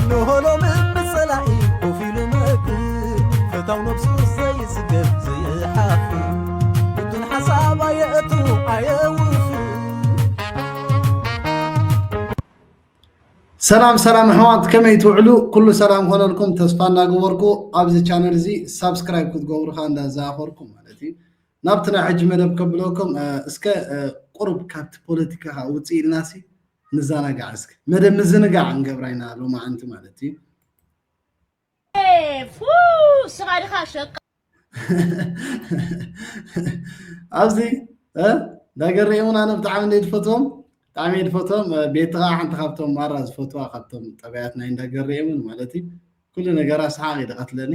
እነሆ ሎሚ ብጸላኢ ኮፍ ኢሉ መክር ፈታው ነብሱ ዘይጽገብ ዘይሓፍር ብቱን ሓሳብ ኣየእቱ ኣየውፍር ሰላም ሰላም ኣሕዋት ከመይ ትውዕሉ ኩሉ ሰላም ኮነልኩም ተስፋ እናገበርኩ ኣብዚ ቻነል እዚ ሳብስክራይብ ክትገብሩ ከዓ እንዳዘኻኸርኩ ማለት እዩ ናብቲ ናይ ሕጂ መደብ ከብለኩም እስከ ቁሩብ ካብቲ ፖለቲካ ከዓ ውፅእ ኢልናሲ ንዛናጋዕ እስኪ መደብ ምዝንጋዕ እንገብራ ኢና ሎማዓንቲ ማለት እዩ ስኻ ድኻ ሸቃ ኣብዚ ዳገር እውን ኣነ ብጣዕሚ እንደ ዝፈትዎም ብጣዕሚ ዝፈትዎም ቤቲ ከዓ ሓንቲ ካብቶም ማራ ዝፈትዋ ካብቶም ጠባያት ናይ እንዳገር እውን ማለት እዩ ኩሉ ነገራ ሰሓቅ ይደቀትለኒ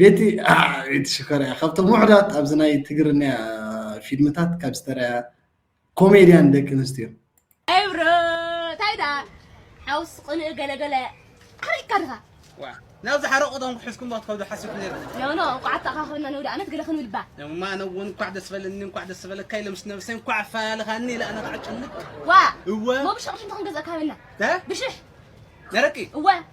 ቤቲ ኣዕ ኢቲ ሽኮር ኢያ ካብቶም ውሕዳት ኣብዚ ናይ ትግርንያ ፊልምታት ካብ ዝተራያ ኮሜድያን ደቂ ኣንስትዮ። ኤብሮ ታይ ደኣ ሓውስ ቅንኢ ገለ ገለ ሓሪቅካ ድኻ ዋእ ናብ ዝሓረቁ ቶም ክሕዝኩም ዶ ክትከዱ ሓሲብኩ ነይረ ኖ ኖ እንቋዕ ኣተኣኻኸብና ነውዲ ኣመት ገለ ክንብል እባ ኖ ማ ኣነ እውን እንኳዕ ደስ በለኒ እንኳዕ ደስ በለካ ኢለ ምስ ነብሰይ እንኳዕ ኣፈላልኻኒ ኢለ ኣነ ከዓ ጭንቅ ዋእ እወ እሞ ብሽቕሽ እንተ ክንገዝኣካ ሃበና እ ብሽሕ ነረቂ እወ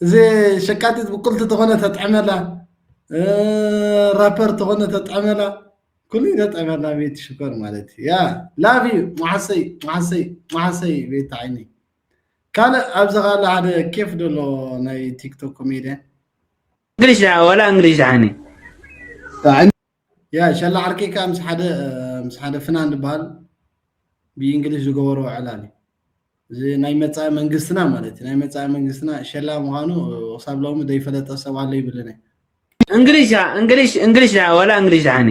እዚ ሸቃጢት ብቁልቲ ተኾነ ተጥዕመላ ራፐር ተኾነ ተጥዕመላ ኩሉ ተጥዕመላ ቤቲ ሽኮር ማለት እዩ ያ ላቭ ዩ መዓሰይ መዓሰይ መዓሰይ ቤቲ ዓይኒ ካልእ ኣብዚ ካለ ሓደ ኬፍ ደሎ ናይ ቲክቶክ ኮሜድያን እንግሊሽ ወላ እንግሊሽ ድሓኒ ያ ሸላ ዓርከይ ከኣ ምስ ሓደ ምስ ሓደ ፍናን ዝበሃል ብእንግሊዝ ዝገበሮ ዕላል እዩ እዚ ናይ መጻኢ መንግስትና ማለት እዩ ናይ መጻኢ መንግስትና ሸላ ምዃኑ ክሳብ ሎሚ ዘይፈለጠ ሰብ ኣሎ ይብልን እየ እንግሊሽ እንግሊሽ እንግሊሽ ዳ ወላ እንግሊሽ ዳኒ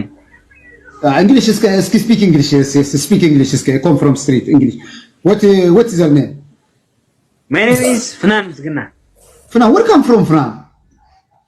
እንግሊሽ እስከ እስኪ ስፒክ እንግሊሽ ስፒክ እንግሊሽ እስከ ኮም ፍሮም ስትሪት እንግሊሽ ወት ወት ኢዝ ዩር ኔም ማይ ኔም ኢዝ ፍናን ምስግና ፍናን ወር ካም ፍሮም ፍናን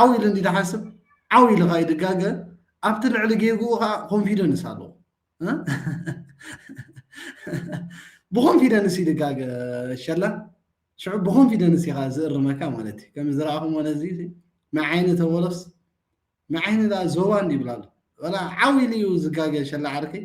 ዓው ኢሉ እንዲ ዝሓስብ ዓው ኢሉ ከዓ ይድጋገ ኣብቲ ልዕሊ ጌግኡ ከዓ ኮንፊደንስ ኣለዎ ብኮንፊደንስ ይድጋገ ሸላ ሽዑ ብኮንፊደንስ ኢኻ ዝእርመካ ማለት እዩ ከም ዝረኣኹሞ ነዚ መዓይኒ ተበሎስ መዓይኒ ዞባ እንዲ ይብላ ኣሎ ዓው ኢሉ እዩ ዝጋገ ሸላ ዓርከይ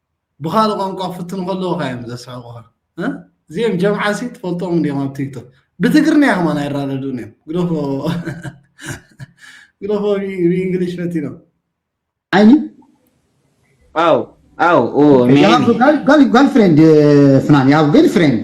ብካልእ ቋንቋ ክፍትኑ ከለዉ ካዮም ዘስሕቁኻ እዚኦም ጀምዓሲ ትፈልጦም እንዲዮም ኣብ ቲክቶክ ብትግርንያ ከማን ኣይራደዱን እዮም ግደፎ ግደፎ ብእንግሊሽ ፈቲኖም ዓይኒ ኣው ኣው ኦ ሜቢ ጋል ፍሬንድ ፍናን ያው ገል ፍሬንድ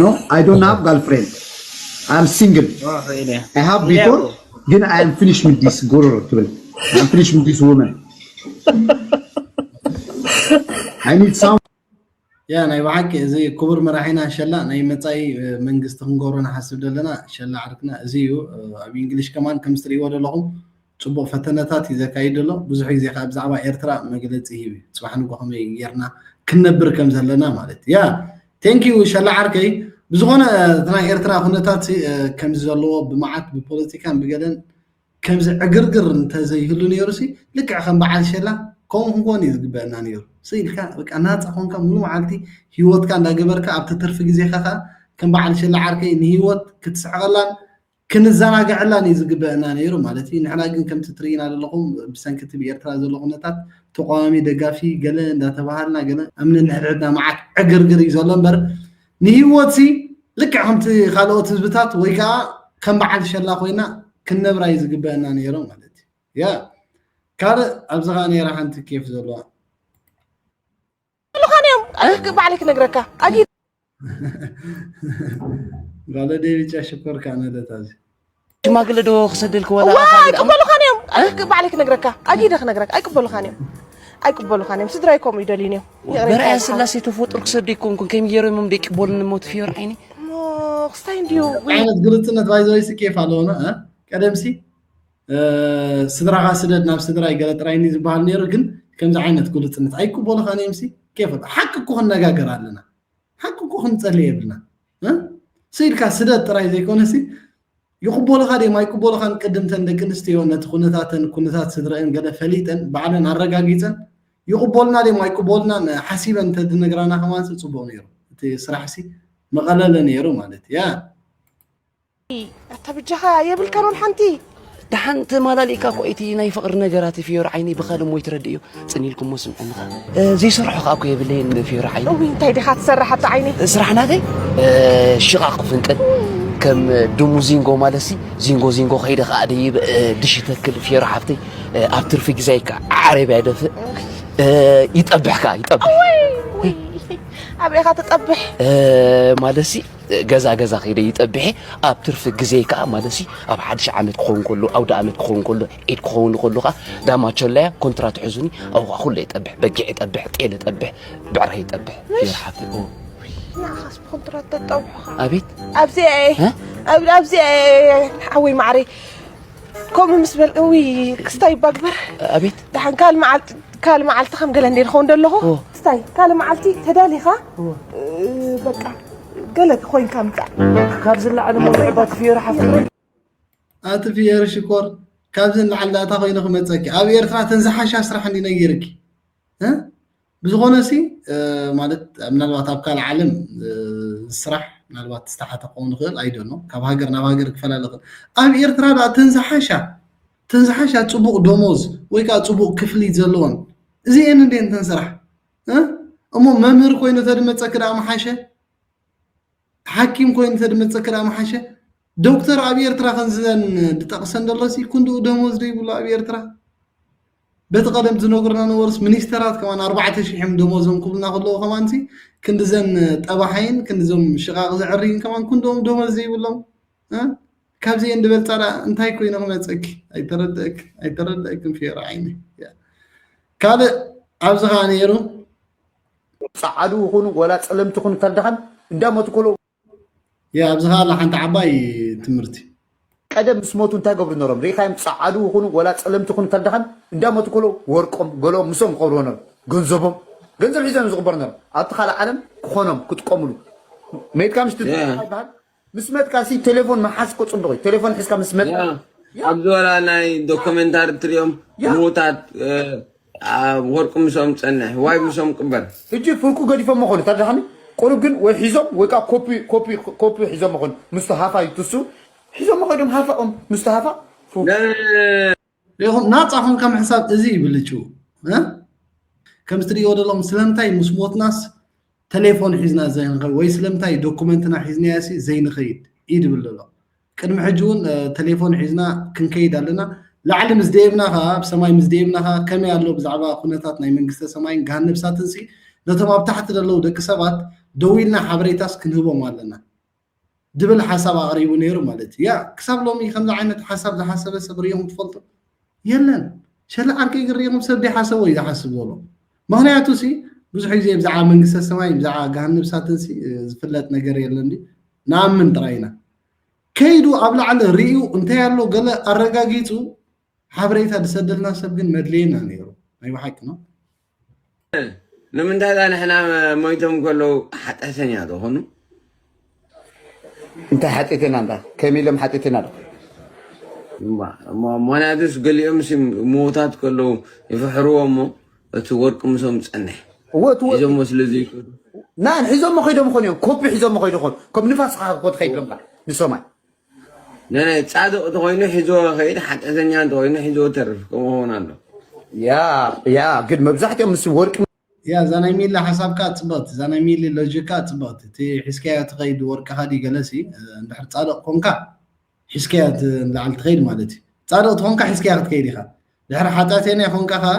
ኖ ኣይ ዶንት ሃቭ ጋል ፍሬንድ ኣይ ኣም ሲንግል ኣይ ሃቭ ቢፎር ግን ኣይ ኣም ፊኒሽ ዊዝ ዲስ ጎሮሮ ትብል ኣይ ኣም ፊኒሽ ዊዝ ዲስ ወመን ኣይ ኒድ ሳም ያ ናይ ብሓቂ እዚ ክቡር መራሒና ሸላ ናይ መፃኢ መንግስቲ ክንገብሮ ንሓስብ ዘለና ሸላ ዓርክና እዚ እዩ ኣብ እንግሊሽ ከማን ከም ዝትርእይዎ ዘለኹም ጽቡቕ ፈተነታት እዩ ዘካይድ ዘሎ ብዙሕ ግዜ ከኣ ብዛዕባ ኤርትራ መግለጺ ሂብ እዩ ጽባሕ ንግሆ ከመይ ጌርና ክንነብር ከም ዘለና ማለት እዩ ያ ቴንክ ዩ ሸላ ዓርከይ ብዝኾነ እቲ ናይ ኤርትራ ኩነታት ከምዚ ዘለዎ ብመዓት ብፖለቲካን ብገለን ከምዚ ዕግርግር እንተዘይህሉ ነይሩሲ ልክዕ ከም በዓል ሸላ ከምኡ ክንኮን እዩ ዝግበአና ነይሩ ስቅ ኢልካ በቃ ናጻ ኮንካ ሙሉ መዓልቲ ሂወትካ እንዳገበርካ ኣብቲ ትርፊ ግዜካ ከኣ ከም በዓል ሸላ ዓርከይ ንሂወት ክትስሕቐላን ክንዘናገዐላን እዩ ዝግበእና ነይሩ ማለት እዩ ንሕና ግን ከምቲ ትርእይና ዘለኹም ብሰንኪ እቲ ብኤርትራ ዘሎ ኩነታት ተቋዋሚ ደጋፊ ገለ እንዳተባሃልና ገለ ኣብ ነንሕድሕድና መዓት ዕግርግር እዩ ዘሎ እምበር ንሂወት ሲ ልክዕ ከምቲ ካልኦት ህዝብታት ወይ ከዓ ከም በዓል ሸላ ኮይና ክንነብራ እዩ ዝግበእና ነይሩ ማለት እዩ ያ ካልእ ኣብዚ ከዓ ነይራ ሓንቲ ኬፍ ዘለዋ ምሉኻን እዮም ባዕለይ ክነግረካ ኣጊ ጋለ ደሪጫ ሽኮር ከዓ ነለት ኣዚ ሽማግለ ዶ ክሰደልክ ወላ ኣይቅበሉኻን እዮም ባዕለይ ክነግረካ ኣጊደ ክነግረካ ኣይቅበሉኻን እዮም ኣይቅበሉኻን እዮም ስድራይ ከምኡ ይደልዩን እዮም በርኣያ ስላሴ ተፈጥሩ ክሰደ ይኮንኩን ከይም ገይሮሞም ደይቅበሉኒ እሞ ትፍዮር ዓይኒ ክስታይ እንድዩ ዓይነት ግልፅነት ባይዘወይሲ ኬፍ ኣለዎና ቀደምሲ ስድራኻ ስደድ ናብ ስድራይ ገለ ጥራይ እኒ ዝበሃል ነይሩ ግን ከምዚ ዓይነት ግሉፅነት ኣይቅበሉኻን እዮም ሲ ኬፍ ሓቂ እኮ ክንነጋገር ኣለና ሓቂ እኮ ክንፀሊ የብልና ስኢልካ ስደት ጥራይ ዘይኮነ ሲ ይቕበሉኻ ድዮም ኣይቅበሉኻን ቅድም ተን ደቂ ኣንስትዮ ነቲ ኩነታተን ኩነታት ስድረአን ገለ ፈሊጠን ባዕለን ኣረጋጊፀን ይቕበሉና ድዮም ኣይቅበሉናን ሓሲበን እንተድነግራና ከማንሲ ፅቡቕ ነይሩ እቲ ስራሕ ሲ መቐለለ ነይሩ ማለት እያ ኣታ ብጃኻ የብልካን ወል ሓንቲ ደሓን ተማላሊእካ እኮ እቲ ናይ ፍቕሪ ነገራት ፍዮሪ ዓይነይ ብኻልእ ሞይ ትረድእዮ ፅን ኢልኩሞ ስምዕንኻ ዘይሰርሖ ከዓ እኮ የብለይን ፍዮሪ ዓይነ እውይ እንታይ ዲኻ ትሰርሕ ኣታ ዓይነይ ስራሕ ናተይ ሽቓቕ ክፍንቅል ከም ድሙ ዚንጎ ማለሲ ዚንጎ ዚንጎ ከይደ ከዓ ደይብ ድሽ ይተክል ፍዮሪ ሓፍተይ ኣብ ትርፊ ግዛይ ከዓ ዓረብያ ይደፍእ ይጠብሕ ከዓ ይጠብሕ ኣበይኻ ትጠብሕ ማለሲ ገዛ ገዛ ከይደ ይጠብሐ ኣብ ትርፊ ግዜ ከዓ ማለሲ ኣብ ሓድሽ ዓመት ክኸውን ከሎ ኣውደ ዓመት ክኸውን ከሎ ዒድ ክኸውን ከሎ ከዓ ዳማቸላያ ኮንትራት ሕዙኒ ኣብኡ ከዓ ኩለ ይጠብሕ በጊዕ ይጠብሕ ጤል ይጠብሕ ብዕራ ይጠብሕ ይርሓፍ ንዓኻስ ብኮንትራት ተጣብሑኻ ኣቤት ኣብዚ ኣየ ኣብዚ ኣየ ሓወይ ማዕረይ ከምኡ ምስ በል እውይ ክስታይ እባ ግበር ኣቤት ደሓን ካልእ መዓልቲ ካልእ መዓልቲ ከም ገለ እንደ ክኸውን ደለኹ ክስታይ ካልእ መዓልቲ ተዳሊኻ በቃ ገለ ኮይንካ ምፃእ ካብ ዝለዓለ መውዕባ ትፍየሩ ሓፍቲ ኣቲ ፍየሪ ሽኮር ካብዚ ንላዕሊ ዳታ ኮይኑ ክመፀኪ ኣብ ኤርትራ ተን ዝሓሻ ስራሕ እንዲ ነጊርኪ ብዝኾነ ሲ ማለት ምናልባት ኣብ ካልእ ዓለም ስራሕ ምናልባት ዝተሓተ ክኸውን ይኽእል ኣይደኖ ካብ ሃገር ናብ ሃገር ክፈላለ ይኽእል ኣብ ኤርትራ ዳኣ እተን ዝሓሻ እተን ዝሓሻ ፅቡቕ ደሞዝ ወይ ከዓ ፅቡቕ ክፍሊት ዘለዎን እዚኤን እንዴ እንተን ስራሕ እሞ መምህር ኮይኑ ተድመፀኪ ዳኣ ምሓሸ ሓኪም ኮይኑ ተድመጸኪ ደኣ ምሓሸ። ዶክተር ኣብ ኤርትራ ከምዘን ድጠቅሰን ደሎሲ ክንድኡ ደሞዝ ዶ ይብሉ ኣብ ኤርትራ? በቲ ቀደም ዝነግሩና ነበሩስ ሚኒስተራት ከማን ኣርባዕተ ሽሕ እዮም ደሞዞም ክብሉና ከለዉ ከማንሲ ክንድዘን ጠባሓይን ክንድዞም ሽቓቕ ዘዕርይን ከማን ክንድኦም ደሞዝ ዘይብሎም ካብዚኤን ድበልጻ ደኣ እንታይ ኮይኑ ክመጸኪ ኣይተረድእክ ኣይተረድእክን ፌሮ ዓይነይ ካልእ ኣብዚ ከኣ ነይሩ ጸዓዱ ይኹኑ ወላ ጸለምቲ ይኹኑ ተርዳኸን እንዳሞቱ ከለዉ ያ ኣብዚ ከኣ ኣላ ሓንቲ ዓባይ ትምህርቲ ቀደም ምስ ሞቱ እንታይ ገብሩ ነሮም ርኢኻዮም ጸዓዱ ይኹኑ ወላ ጸለምቲ ይኹኑ ተርዳኸን እንዳሞቱ ከለዉ ወርቆም ገለኦም ምስኦም ክቐብርዎ ነሮም ገንዘቦም ገንዘብ ሒዞም እዮም ዝቕበሩ ነሮም ኣብቲ ካልእ ዓለም ክኾኖም ክጥቀምሉ መይትካ ምሽ ትድፋ ይበሃል ምስ መትካ ሲ ቴሌፎን ምሓዝ እኮ ጽቡቅ እዩ ቴሌፎን ሒዝካ ምስ መት ያ ኣብዚ ወላ ናይ ዶክመንታሪ ትሪኦም ያ። ምዉታት እ፣ ኣ፣ ወርቁ ምስኦም ጸንሕ ዋይ ምስኦም ቅበር ሕጂ ፍርቁ ገዲፎሞ ኮኑ ተረዳሓኒ ቁሩብ ግን ወይ ሒዞም ወይ ከዓ ኮፒ ኮፒ ኮፒ ሒዞሞ ኮኑ ምስቲ ሃፋ ይትሱ ሒዞሞ ከይዶም ሃፋኦም ምስቲ ሃፋ ፉ ነ ሪኢኹም ናፃ ኮንካ ምሕሳብ እዚ እዩ ብልጭው ከምዚ ትሪእዎ ዘለኹም ስለምንታይ ምስ ሞትናስ ተሌፎን ሒዝና ዘይንኸይድ ወይ ስለምንታይ ዶኩመንትና ሒዝናያሲ ዘይንኸይድ እዩ ድብል ዘሎ ቅድሚ ሕጂ እውን ተሌፎን ሒዝና ክንከይድ ኣለና ላዕሊ ምስ ደየብና ከዓ ኣብ ሰማይ ምስ ደየብና ከዓ ከመይ ኣሎ ብዛዕባ ኩነታት ናይ መንግስተ ሰማይን ገሃነብ እሳትን ሲ ነቶም ኣብ ታሕቲ ዘለዉ ደቂ ሰባት ደው ኢልና ሓበሬታስ ክንህቦም ኣለና ድብል ሓሳብ ኣቕሪቡ ነይሩ ማለት እዩ። ያ ክሳብ ሎሚ ከምዚ ዓይነት ሓሳብ ዝሓሰበ ሰብ ሪእኹም ትፈልጡ? የለን። ሸላ ዓርከይ ግን ሪእኹም ሰብ ዘይሓሰቦ እዩ ዝሓስብ ዘሎ። ምኽንያቱሲ ብዙሕ ግዜ ብዛዕባ መንግስተ ሰማይ ብዛዕባ ገሃነብ እሳትንሲ ዝፍለጥ ነገር የለን ድዩ? ንኣምን ጥራይ ኢና። ከይዱ ኣብ ላዕሊ ርእዩ እንታይ ኣሎ ገለ ኣረጋጊጹ ሓበሬታ ዝሰደልና ሰብ ግን መድለየና ነይሩ። ናይ ብሓቂ ነው። ንምንታይ ዛ ንሕና ሞይቶም ከለዉ ሓጢኣተኛ ዶ ኾኑ? እንታይ ሓጢእትና እንዳ ከም ኢሎም ሓጢእትና ዶ ሞናዱስ ገሊኦም ምዉታት ከለዉ ይፍሕርዎ እሞ እቲ ወርቂ ምሶም ዝፀንሕ ሒዞሞ ስለዚ ናን ሒዞሞ ከይዶም ኾን እዮም ኮፒ ሒዞሞ ከይዱ ኾን ከም ንፋስ ኻኮ ትኸይድ ዶምካ ንሶማይ ነነ ጻድቕ እንተኾይኑ ሒዝዎ ይኸይድ፣ ሓጢኣተኛ እንተኾይኑ ሒዝዎ ይተርፍ ከምኡ ክኸውን ኣሎ። ያ ያ ግን መብዛሕትኦም ምስ ወርቂ ያ እዛ ናይ ሚሊ ሓሳብ ከኣ ጽብቕቲ እዛ ናይ ሚሊ ሎጂክ ከኣ ጽብቕቲ እቲ ሒዝካዮ ትኸይድ ወርቅኻ ድዩ ገለሲ እንድሕር ጻድቕ ኮንካ ሒዝካዮ ንላዕሊ ትኸይድ ማለት እዩ ጻድቕ ትኾንካ ሒዝካያ ክትከይድ ኢኻ ድሕሪ ሓጢኣተኛ ኮንካ ከኣ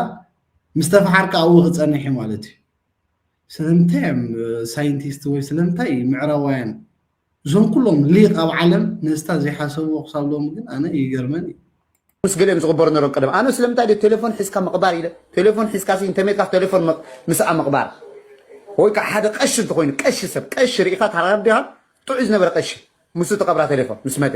ምስ ተፈሓርካ ኣብኡ ክጸንሕ እዩ ማለት እዩ ስለምንታይ እዮም ሳይንቲስት ወይ ስለምንታይ ምዕራባውያን እዞም ኩሎም ሊቅ ኣብ ዓለም ነስታ ዘይሓሰብዎ ክሳብ ሎሚ ግን ኣነ ይገርመን እዩ። ምስ ገሊኦም ዝቕበሩ ነሮም ቀደም ኣነ ስለምንታይ ደ ቴሌፎን ሒዝካ ምቕባር ኢለ ቴሌፎን ሒዝካ ሲ እንተሜትካ ቴሌፎን ምስኣ ምቕባር ወይ ከዓ ሓደ ቀሺ እንተኮይኑ ቀሺ ሰብ ቀሺ ርኢኻ ታራዲኻ ጥዑይ ዝነበረ ቀሺ ምስ ትቐብራ ቴሌፎን ምስ መተ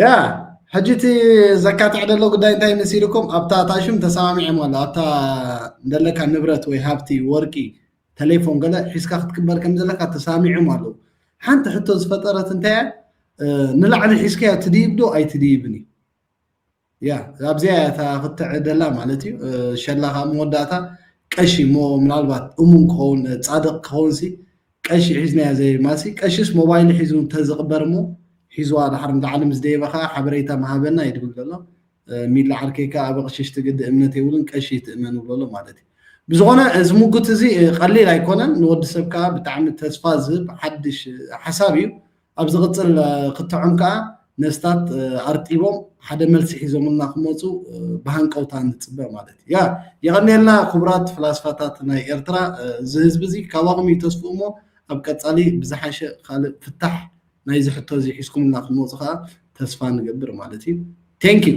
ያ ሕጂ እቲ ዘካትዕ ዘሎ ጉዳይ እንታይ መሲልኩም ኣብታ እታ ሽም ተሰማሚዖም ኣሎ ኣብታ ዘለካ ንብረት ወይ ሃብቲ ወርቂ ተሌፎን ገለ ሒዝካ ክትቅበል ከም ዘለካ ተሰማሚዖም ኣለዉ ሓንቲ ሕቶ ዝፈጠረት እንታይ እያ ንላዕሊ ሒዝካዮ ትድይብ ዶ ኣይትድይብን እዩ ያ ኣብዚኣ እያ እታ ክትዕሪ ደላ ማለት እዩ ሸላ ካብ መወዳእታ ቀሺ እሞ ምናልባት እሙን ክኸውን ጻድቕ ክኸውንሲ ቀሺ ሒዝናያ ዘይማሲ ቀሽስ ሞባይሉ ሒዙ እንተዝቕበር እሞ ሒዝዋ ድሓር ንላዕሊ ምስ ደየበ ከዓ ሓበሬታ ምሃበና እዩ ድብል ዘሎ ሚላ ዓርከይ ከዓ ኣብ ኣቕሽሽ ትግዲ እምነት የብሉን ቀሺ ይትእመን ይብሎ ኣሎ ማለት እዩ ብዝኾነ እዚ ሙጉት እዚ ቀሊል ኣይኮነን ንወዲ ሰብ ከዓ ብጣዕሚ ተስፋ ዝህብ ሓድሽ ሓሳብ እዩ ኣብ ዝቕጽል ክትዖም ከኣ ነፍስታት ኣርጢቦም ሓደ መልሲ ሒዞምልና ክመጹ ብሃንቀውታ ንጽበ ማለት እዩ። ያ የቐንየልና ክቡራት ፍላስፋታት ናይ ኤርትራ እዚ ህዝቢ እዚ ካባኹም እዩ ተስፍኡ እሞ ኣብ ቀጻሊ ብዝሓሸ ካልእ ፍታሕ ናይዚ ሕቶ እዚ ሒዝኩምልና ክትመጹ ከኣ ተስፋ ንገብር ማለት እዩ። Thank you።